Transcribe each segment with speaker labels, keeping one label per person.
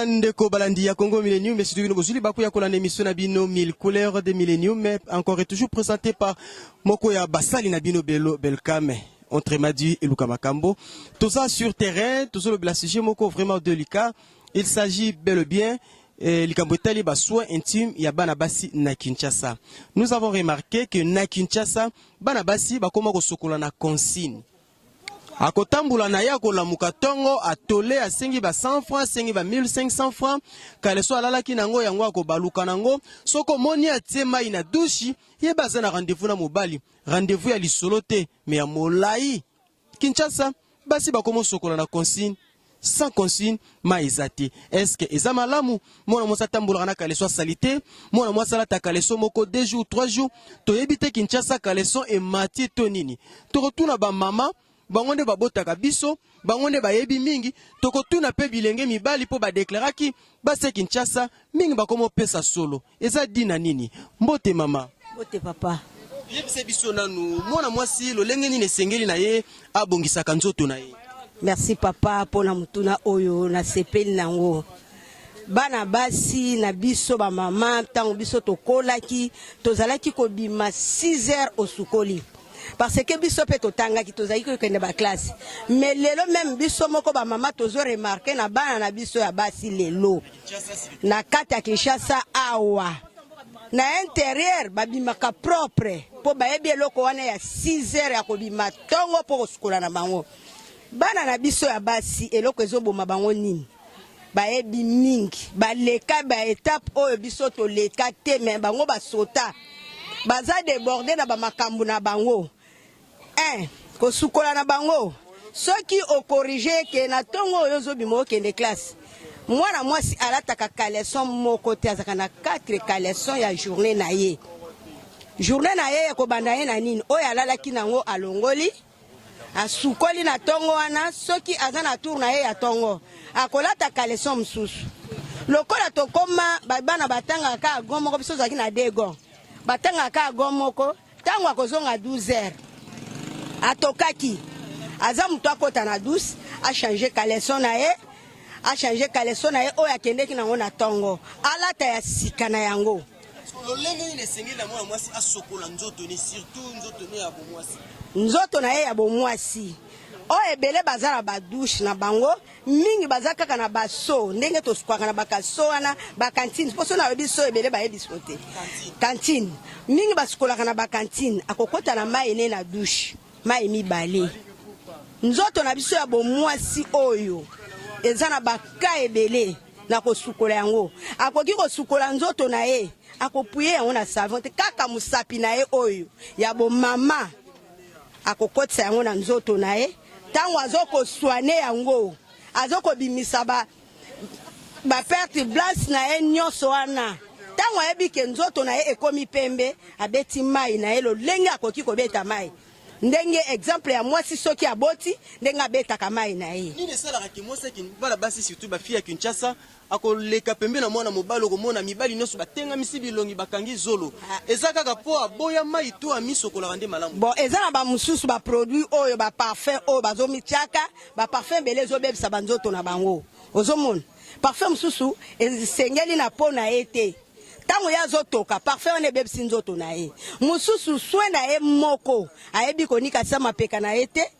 Speaker 1: Ndeko balandi ya Congo Millennium, mais surtout bozuli baku ya kolanda émission na bino 1000 couleurs de Millennium, mais encore et toujours présenté par moko ya basali na bino Belo Belkame. Entre Madi et Luka Makambo. Tout ça sur terrain, tout ça le bla sujet moko vraiment délicat. Il s'agit bel et bien eh, likambo etali ba soins intimes ya bana basi na Kinshasa. Nous avons remarqué que na Kinshasa bana basi bakoma kosokola na consigne. akotambola na ye akolamuka ntongo atole asengi ba 100 francs asengi ba 1500 francs kaleso alalaki na yango yango akobaluka na yango soki omoni atie mai na dushi ye baza na rendez-vous na mobali rendez-vous ya lisolo te me ya molai kinshasa basi bakomosokola na consigne sans consigne mai eza te eske eza malamu mwana mwasi atambolaka na kaleso asali te mwana mwasi alata kaleso moko deux jours trois jours toyebi te kinshasa kaleso emati to nini tokotuna bamama bango nde babotaka biso bango nde bayebi mingi tokotuna mpe bilenge mibali mpo badeklaraki Basi ya Kinshasa mingi bakomo pesa solo. Eza dina nini? Mbote mama. Mbote papa.
Speaker 2: Yebisa biso
Speaker 1: nanu mwana mwasi lolenge nini esengeli na ye abongisaka nzoto na ye. Merci papa
Speaker 2: mpo na motuna oyo nasepeli na yango. Bana basi na biso bamama, ntango biso tokolaki, tozalaki kobima 6 heures osukoli parce que biso mpe totangaki tozalaki kokende baklasse mais lelo meme biso moko bamama tozo remarke na bana na biso ya basi lelo na kati ya kinshasa awa na interieur babimaka propre mpo bayebi eloko wana ya 6 heures ya kobima ntongo mpo kosukola na bango bana na biso ya basi eloko ezoboma bango nini bayebi mingi baleka ba etape oyo biso toleka te me bango basota baza deborde na bamakambo na bango un eh, kosukola na bango soki okorige eke na ntongo oyo ozobima okende classe mwana mwasi alataka kaleson moko te azalaka na 4 kaleson ya journée na ye journée na ye ekobanda ye na nini oyo alalaki nango alongoli asukoli na tongo wana soki aza na tour na ye ya tongo akolata kaleson mosusu lokola tokoma bana batangaka kaka go moko biso ozalaki na dego batangaka kaka go moko ntango akozonga 12 heures atokaki aza moto akota na 12 achange kaleson na ye achange kaleson na ye oyo akendeki nango na tongo alata ya sika na yango lolenge nini
Speaker 1: esengeli na mwana mwasi asokola nzoto ne surtout nzoto ne ya bomwasi nzoto na ye ya
Speaker 2: bomwasi oyo oh, ebele baza na badushe na bango mingi baza kaka na baso ndenge tosukwaka na bakaso wana bakantine mposo nayebi so ebele bayebi so te kantine mingi basukolaka na bakantine akokota na mai ne na dushe mai mibale nzoto na biso ya bomwasi oyo eza na baka ebele na kosukola yango. Akoki kosukola nzoto na ye, akopuye yango na savon te, kaka mosapi na ye oyo ya bomama akokotisa yango na nzoto na ye. Ntango azokoswane yango, azokobimisa ba baperte blanche na ye nyonso wana ntango ayebi ke nzoto na ye ekomi pembe abeti mai na ye lolenge akoki kobeta mai ndenge exemple ya mwasi soki aboti ndenge abetaka mai na ye nini esalaka ke mwasi akin
Speaker 1: bana basi surtout ba fille ya Kinshasa akoleka pembe na mwana mobali okomona mibali nyonso batengamisi bilongi bakangi zolo ah. eza kaka po aboya mai to amisokolaka nde malamu bon eza na bamosusu
Speaker 2: baproduit oyo baparfum oyo bazomityaka baparfum ebele ezobebisa banzoto na bango ozomona parfum mosusu esengeli na po na ye te ntango ye azotoka parfum wana ebebisi nzoto na ye mosusu swe na ye moko ayebi konikatisa mapeka na ye te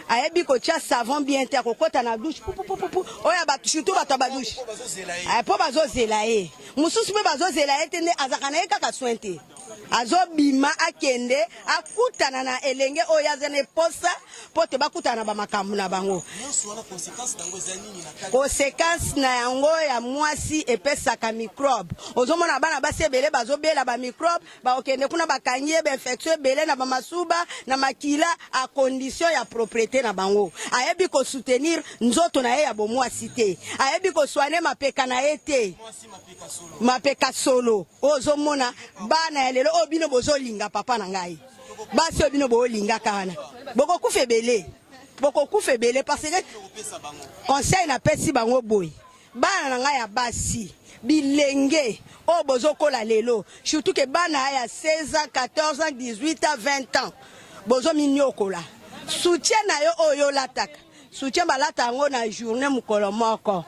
Speaker 2: ayebi kotya savon bien te akokɔta na dushe pupupupu oyo bato surtout bato ya badushe mpo bazozela ye mosusu mpe bazozela ye te nde azalaka na ye kaka swe te azobima akende akutana na elenge oyo aza na eposa mpo te bakutana na bamakambo na bango. Konsekansi na yango ya mwasi epesaka mikrobe. Ozomona bana basi ebele bazobela bamikrobe, bakokende kuna bakangi ye bainfektio ebele na bamasuba na makila a kondisio ya propriete na bango. Ayebi kosutenir nzoto na ye ya bomwasi te, ayebi koswane mapeka na ye te. mapeka solo oyo ozomona bana ya lelo oyo bino bozolinga papa na ngai basi oyo bino boolingaka wana bokokufa ebele bokokufa ebele parce que conseil napesi bango boye bana na ngai ya basi bilenge oyo bozokola lelo surtout ke bana ya 16 ans 14 ans 18 ans 20 ans bozominiokola soutien na yo oyo olataka Soutien balata yango na journée mukolo moko.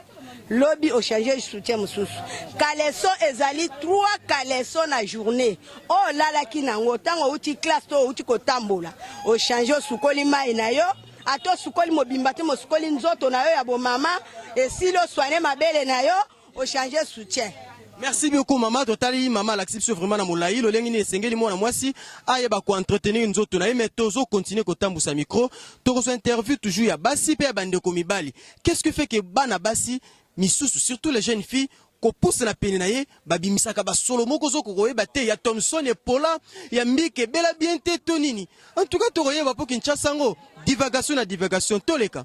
Speaker 2: Lobi au changer soutien mususu. Caleçon ezali trois caleçon na journée. Oh lala ki nango tango uti classe to uti kotambola. Au changer sukoli mai na yo. Ato sukoli mobimba te mosukoli nzoto na yo ya bomama. Esilo soigner mabele na yo. o changer soutien merci beaucoup
Speaker 1: mama totali mama alakisi biso vraiment na molai lolenge nini esengeli mwana mwasi ayeba koentretenir nzoto na ye mais tozo continue kotambwisa micro tokozwa interview toujours ya basi mpe ya bandeko mibali qu'est ce que fait ke bana basi misusu surtout les jeunes filles kopusana pene na ye babimisaka basolo moko ozoko koyeba te ya thomson epola ya mbike ebela bien te to nini en tout cas tokoyeba mpo kinshasa yango divagation na divagation toleka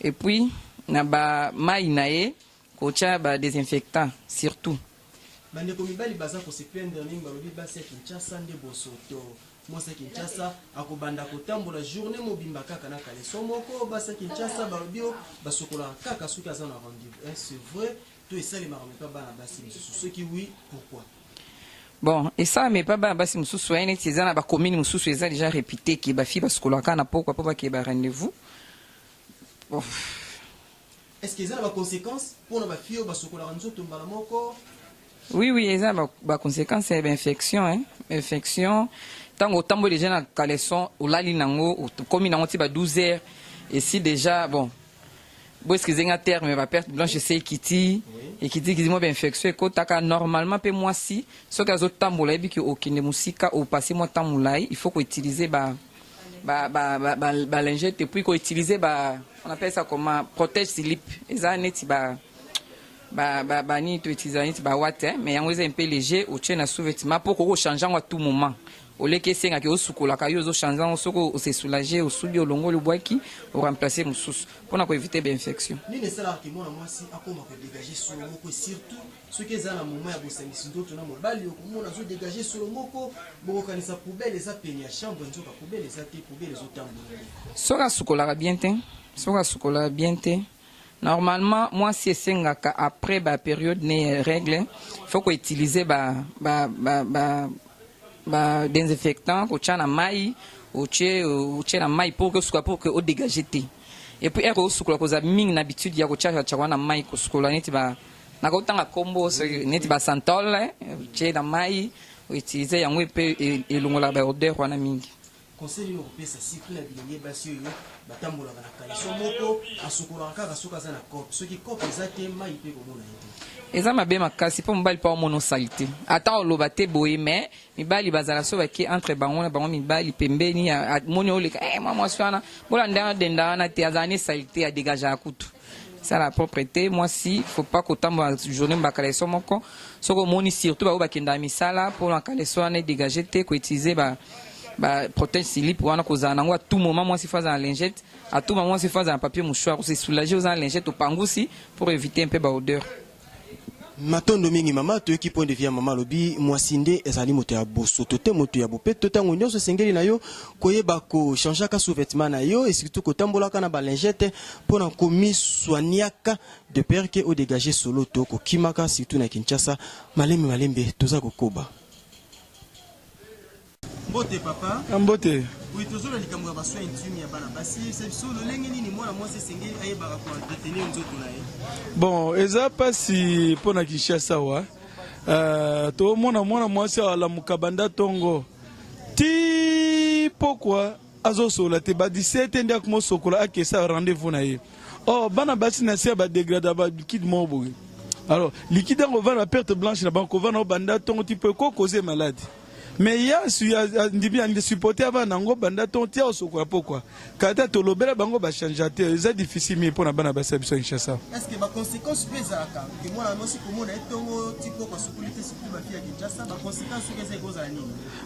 Speaker 3: et puis na ba mayi na ye kotia ba desinfectant surtout bandeko
Speaker 1: mibali baza kose plaindre mingi balobi basi ya kinshasa nde bosoto mwasi ya kinshasa akobanda kotambola journée mobimba kaka na kaleso moko basi ya kinshasa balobi o basokolaka kaka soki aza na rendez-vous est ce vrai to esalemaka mepa bana basi mosusu soki oui pourquoi bon
Speaker 3: esalama epa bana basi mosusu aye neti eza na bacommune mosusu eza deja répute ke bafi basukolaka na pokwa mpo bakeye ba rendez-vous
Speaker 1: Est-ce que eza na ba consequences pona ba filles oyo basokolaka nzoto mbala moko? Oui,
Speaker 3: oui, eza ba, ba consequences ya ba infection hein. Infection tango otamboli deja na caleçon olali nango okomi nango ti ba 12 heures et si déjà bon bo excuse nga terme ba perte blanche esi ekiti ekiti ekiti mwa ba infection ekotaka normalement mpe mwasi soki azotambola ayebi ke okende mosika opase mwa temps molai il faut koutiliser ba ba ba ba, ba, ba lingette puis ko utiliser ba on appelle ça comment protège slip eza neti ba ba ba ba nini to utiliser neti ba watt hein, mais yango eza un peu léger otie na sous-vêtement po koko changer yango à tout moment oleki esenga ke osukolaka yo ozoshanje yango soki osesoulage osubi olongoli obwaki oremplace mosusu mpo na koevite bainfection
Speaker 1: Soki eza na moment ya bosangisi nzoto na mobali okomona azo degager solo moko bokokanisa poubelle eza pene ya chambre nzoka poubelle eza te poubelle ezo tambola nde. Soki asukolaka
Speaker 3: bien te soki asukolaka bien te normalement mwasi esengaka après ba periode ne ya règle faut ko utiliser ba ba ba ba, ba désinfectant kotya na mai otie otie na mai pour que osuka pour que o dégager te et puis eko osukola kozala mingi na habitude ya kotya tya wana mai kosukola neti ba nakotanga nkombo soki neti basantol eh, otie na mai outilize yango mpe e, elongolaka baodeur wana mingi conseil nini okopesa
Speaker 1: surtout na bilenge basi oyo batambolaka na kaleso moko asukolaka kaka soki aza na cope soki cope eza te mai mpe komona ye te eza mabe makasi mpo
Speaker 3: mobali mpo aomona osali te ata oloba te boye me mibali bazala so bake entre bango na bango mibali pembeni amoni oleka e eh, mwa mwasi wana bolanda wana denda wana te azala ne salite adegageaka kutu sala proprete mwasi faut pas kotambola journée mbaka leso moko soki omoni surtout baoyo bakendaka misala mpo na kaleso wana edegage te koutilize ba ba protège silip wana kozala nango à tout moment mwasi fo azala lingette à tout moment mwasi fo azala papier mouchoir kose soulager oza na lingette opangusi pour éviter un peu ba odeur
Speaker 1: matondo mingi mama toyoki point de vie ya mama alobi mwasi nde ezali moto ya bosoto te moto ya bopeto ntango nyonso esengeli na yo koyeba kochangeaka sous-vêtement na yo esurtout kotambolaka na balingete mpo na komiswaniaka de pere ke odegage solo to kokimaka surtout na kinshasa malembe malembe toza kokoba mbote papa ah, mbote oui
Speaker 4: tozoloba likambo
Speaker 1: ya basoin intime ya bana basi yebisa biso lolenge nini mwana mwasi esengeli ayebaka koentretenir nzoto na ye bon eza
Speaker 4: mpasi mpo na kinshasa wa uh, tomona mwana mwasi alamuka banda ntongo ti pokwa azosola te ba 17 nde akomosokola akesa rendez-vous na ye or oh, bana basi na se ya badegrada balikide moko boye alors likide yango ovanda na perte blanche na bango kovanda obanda ntongo ti mpo ekokoze maladi me ye andimi ande supporte ya bana yango banda ton tia osokola pokwa kata tolobela bango bachangea te eza difficile mingi mpo na bana basi ya biso ya kinshasa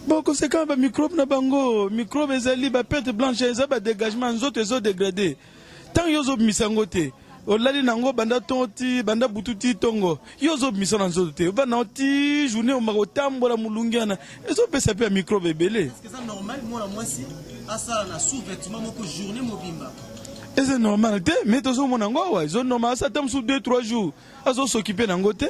Speaker 1: bon conséquence
Speaker 4: bamicrobe na bango microbe ezali bapete blanche eza badégagement nzoto ezodegrade Tant yo zo bimisa ngo te. olali na yango banda ntongo ti banda butu ti ntongo yo ozobimisa na nzoto te ovanda na yango ti journée omaka otambola molungi wana ezopesa mpe ya mikrobe ebele
Speaker 1: eza
Speaker 4: normal te mais tozomona yango awa ezo normal asa ata mosusu 2 3 jours azosokipe na yango te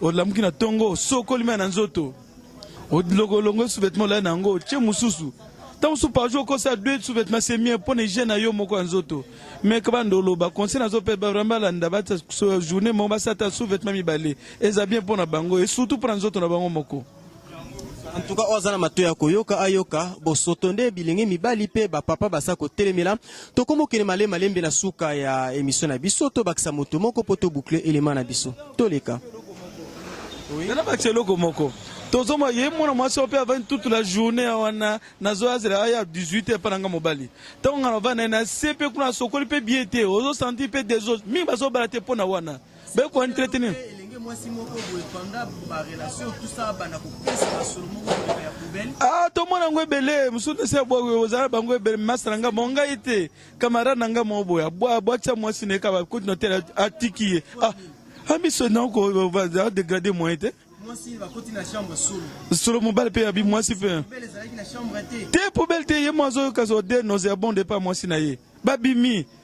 Speaker 4: olamuki na ntongo osokoli mai na nzoto olongoli sous-vêtement olali na yango otie mosusu ntango mosusu par jour okosa deux sous-vêtement c'est mieux mpo na hygiène na yo moko ya nzoto mais kabanda oloba conseil nazo mpe vraiment balanda bata journée moko basata sous-vêtement mibale eza bien mpo na bango et surtout mpo na nzoto na bango moko En
Speaker 1: tout cas, oyo aza na mato ya koyoka ayoka bosoto nde bilenge mibali mpe bapapa baza kotelemela tokoma okende male malembe na suka ya emission na biso tobakisa moto moko mpo tobukle elema na biso toleka
Speaker 4: nana bakisa eloko moko tozoma ye mwana mwasi oyo mpe avandi toute la journée ya wana nazo azela aya 18 epa na nga mobali ntango nga navandi naye na se mpe kuna asokoli mpe bie te ozosanti mpe desose mingi bazobala te mpo na wana Be ko entretenir. Elenge mwasi moko boye pendant ba relation tout ça bana ko pesa ba solo moko boye ya poubelle. Ah to mona ngo ebele musu ne se bwa yo za ba ngo ebele masa na nga mo nga ite camarade na nga mo boya bwa bwa cha mwasi ne ka ba ko no tela atiki ah amiso ah, na ko va degrader moi ite. Mwasi ba koti na chambre solo. Solo mobali pe abi mwasi pe. Poubelle ezalaki na chambre te. Te poubelle te ye mwazo kazo de nos ya bon départ mwasi na ye. Babimi.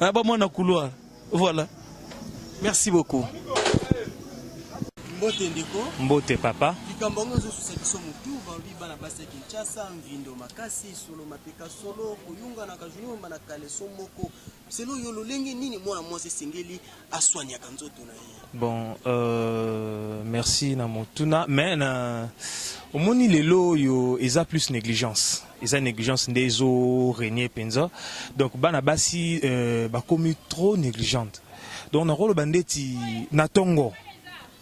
Speaker 4: Ah, ba mwana couloir. Voilà. Merci
Speaker 1: beaucoup. Mbote ndeko. Mbote papa.
Speaker 5: Likambo yango ezosusa
Speaker 1: biso motu balobi bana basi ya Kinshasa mvindo makasi solo mapeka solo koyunganaka juniomba na kaleso moko selo yo lolenge nini mwana mwasi esengeli aswaniaka nzoto na ye bon euh,
Speaker 5: merci na motuna mais na omoni lelo oyo eza plus négligence eza négligence nde ezo régner penza donc bana basi euh, bakomi trop négligente donc nakoloba ndeti na tongo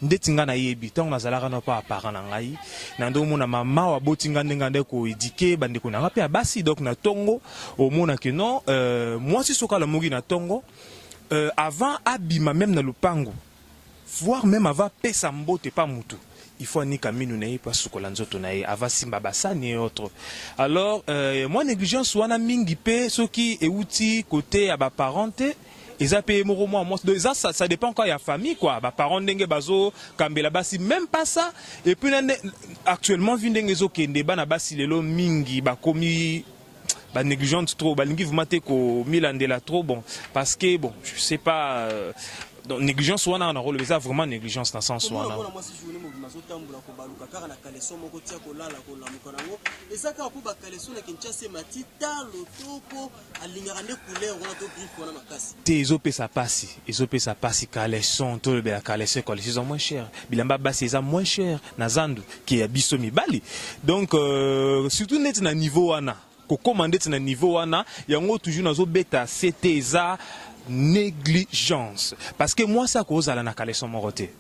Speaker 5: ndeti nga nayebi ntango nazalaka na pa parent na ngai na nde omona mama waboti nga ndenge ande koedike bandeko na nga mpe ya basi donc na ntongo omona ke non euh, mwasi soki alamuki na ntongo euh, avant abima meme na lopango voir meme ava pesa mbote pa mutu il faut anika minu na ye mpe asukola nzoto na ye ava simba basani et autres alors euh, mwa négligence wana mingi mpe soki euti kote ya baparent te eza mpe ye moko mwa mwasi donc eza ça, ça dépend encore ya famille quoi baparent ndenge bazokambela basi même pas ça et puis na nde actuellement vi ndenge ezokende bana basi lelo mingi bakomi ba négligente trop balingi vraiment te komilandela trop bon parce que bon je sais pas euh, donc négligence wana na role eza vraiment négligence na sens wana te ezopesa pasi ezopesa pasi caleson tolobela caleson caleson eza moins cher bilamba basi eza moins cher na zandu ke ya biso mibali donc euh, surtout neti na niveau wana kokoma ndeti na niveau wana yango toujours nazobeta ct eza négligence parce que mwasi akozala na kaleson moko te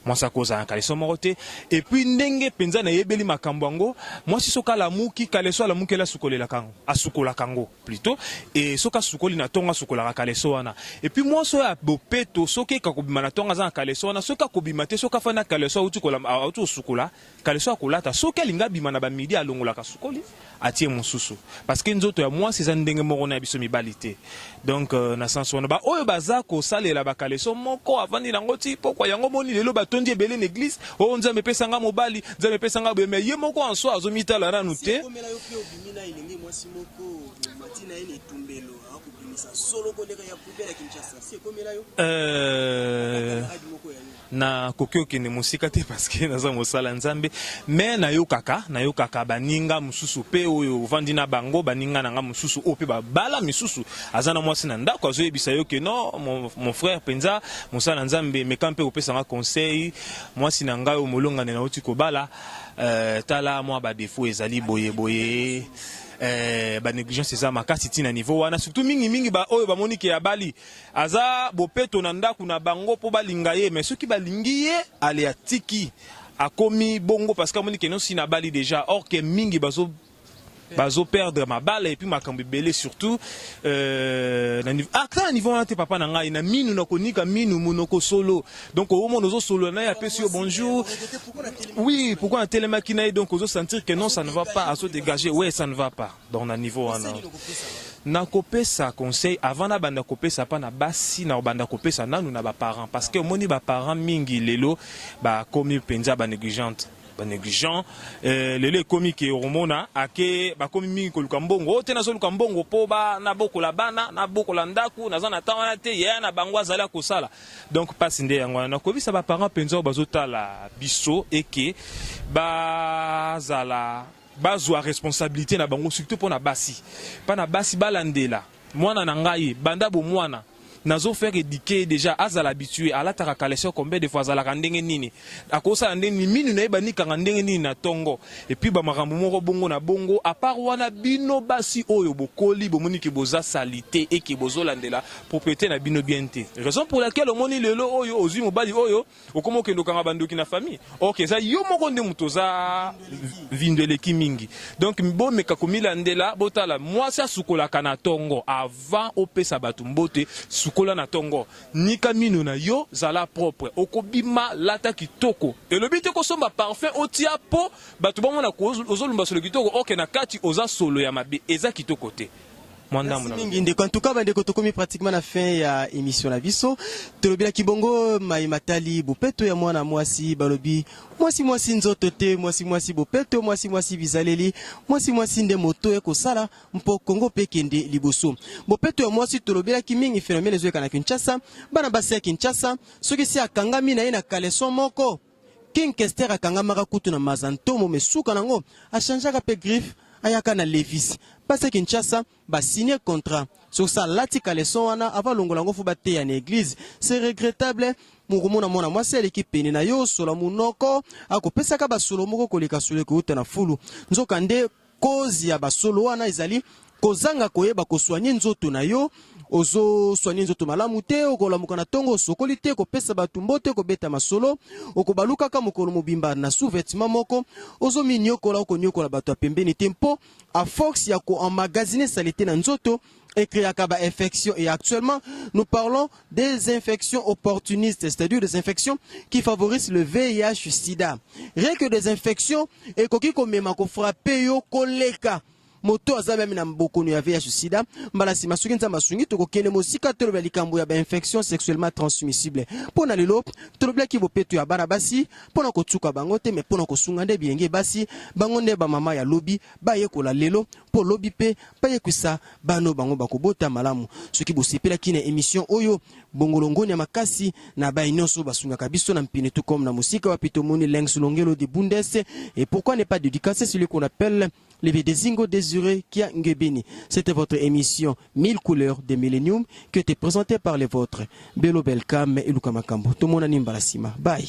Speaker 5: mwasi akozala na kaleso moko te epuis ndenge mpenza nayebeli makambo yango mwasi soki alamuki kaleso alamukeli asukolelaka yango asukolaka yango plutot et soki asukoli na tongo asukolaka kaleso wana et puis mwasi oyo ya bopeto soki eka kobima na tongo aza na kaleso wana soki akobima te soki afandi na kaleso auti kolamba auti kosukola kaleso akolata soki alingi abima na bamidi alongolaka sukoli atie mosusu parce que nzoto ya mwasi eza ndenge moko na ya biso mibali te donc euh, na sens wana baoyo baza kosalela bakaleso moko avandi nango ti pokwa yango moni lelo batondi ebele na eglise o oh, nzambe epesanga mobali nzambe epesanga boye me ye moko anso azomitala nanu te Olingi na elenge mwasi moko omati na ye na etumbelo akobimisa solo koleka ya poubele ya Kinshasa si ekomela yo euh, adi moko ya nini nakoki okende mosika te parceke naza mosala nzambe me nayokaka nayokaka baninga mosusu mpe oyo ovandi na bango baninga na nga mosusu oyo mpe babala misusu aza na mwasi na ndako azoyebisa yo ke no mon, mon frère mpenza mosala nzambe meka mpe kopesa nga conseil mwasi na ngai oyo molongani nauti kobala Euh, tala mwa ba défaut ezali boye boye euh, ba négligence eza makasi ti na niveau wana surtout mingi mingi ba oyo bamoni ke abali aza bopeto na ndako na bango mpo balinga ye mais soki balingi ye ale atiki akomi bongo parce que amoni ke nosi nabali déjà or ke mingi bazo bazo perdre mabala et puis makambo ebele surtout euh, na niveau ah na niveau wana te papa na ngai na minu na konika minu monoko solo donc au moins ozo solo na ya pesi yo bonjour oui pourquoi na telemaki na donc ozo sentir que non ça ne va pas azo dégager ouais ça ne va pas donc na niveau wana nakopesa conseil avant nabanda kopesa mpa na basi nakobanda kopesa nanu na baparent parce que omoni baparent mingi lelo bakomi mpenza banégligente ba negligent eh, lelo ekomi ke okomona ake bakomi mingi koluka mbongo oyo te nazoluka mbongo mpo nabokola bana nabokola ndako naza na ntango wana te yaya na bango azali akosala donc mpasi nde yango wana nakoyebisa baparent mpenza oyo bazotala biso eke bazala bazwa responsabilite na bango surtout mpo na basi mpa na basi balandela mwana na ngai banda bomwana nazo faire éduquer déjà azala habitué alataka caleçon combien de fois azalaka ndenge nini akosala ndenge nini minu na ye banikanga ndenge nini na tongo et puis ba makambo moko bongo na bongo à part wana bino basi oyo bokoli bomoni ke boza salite et ke bozolandela propriété na bino bien te raison pour laquelle omoni lelo oyo ozui mobali oyo okoma okende okanga bandoki na famille ok eza yo moko nde moto oza vindo eleki mingi donc bomeka komilandela botala mwasi asukolaka na tongo avant opesa bato mbote sukola na tongo nika mino na yo zala propre okobima lata kitoko elobi te kosomba parfum otia po bato bamona ozolumba solo kitoko ok na kati oza solo ya mabe eza kitoko te mwa ndambo na mingi ndeko antuka bandeko
Speaker 1: tokomi pratiquement na fin ya émission na biso tolobelaki bongo mai matali bopeto ya mwana mwasi balobi mwasi mwasi nzoto te mwasi mwasi bopeto mwasi mwasi bizaleli mwasi mwasi nde moto ya kosala mpo kongo mpe kende liboso bopeto ya mwasi tolobelaki mingi phénomène ezoyeka na kinshasa bana basi ya kinshasa soki si akangami na ye na kaleson moko King Kester akangamaka kutu na Maza Ntomo mais suka nango a changeaka pe griffe ayaka na Levis. Base Kinshasa ba signer contrat soki sa alati caleçon wana avant alongola yango faut bateya na eglise c'est regrettable. Mokomona mwana mwasi aleki pene na yo osola munoko akopesaka ba solo moko koleka solo ekouta na fulu nzoka nde Cause ya ba solo wana ezali kozanga koyeba koswanye nzoto na yo ozoswani nzoto malamu te okolamuka na ntongo osokoli te kopesa bato mbote kobeta masolo okobalukaka mokolo mobimba na sous-vetement moko ozominyokola okonyokola bato ya pembeni te mpo a force ya koemagazine salite na nzoto et créaka ba infection et actuellement nous parlons des infections opportunistes c'est-à-dire des infections qui favorisent le VIH sida rien que des infections ekoki komema ko frapper yo koleka moto aza meme na bokono ya VIH sida mbala nsima soki nzambe asungi tokokende mosika tolobela likambo ya bainfection sexuellement transmissible mpo na lelo tolobelaki bopeto ya bana basi mpo na kotuka bango te me mpo na kosunga nde bilenge basi bango nde bamama ya lobi bayekola lelo mpo lobi mpe bayekwisa bano bango bakobota malamu. Soki bosepelaki na emission oyo, bongolongoni ya makasi na baye nyonso basungaka biso na mpine tout comme na mosika wapi tomoni Lengs Longelo de Bundes et pourquoi ne pas dédicacer celui qu'on appelle le Vedezingo Désiré Kia Ngebeni. C'était votre émission 1000 couleurs de Millennium qui était présentée par les vôtres Belo Belkam et Luka Makambo. Tomonani mbala sima. Bye.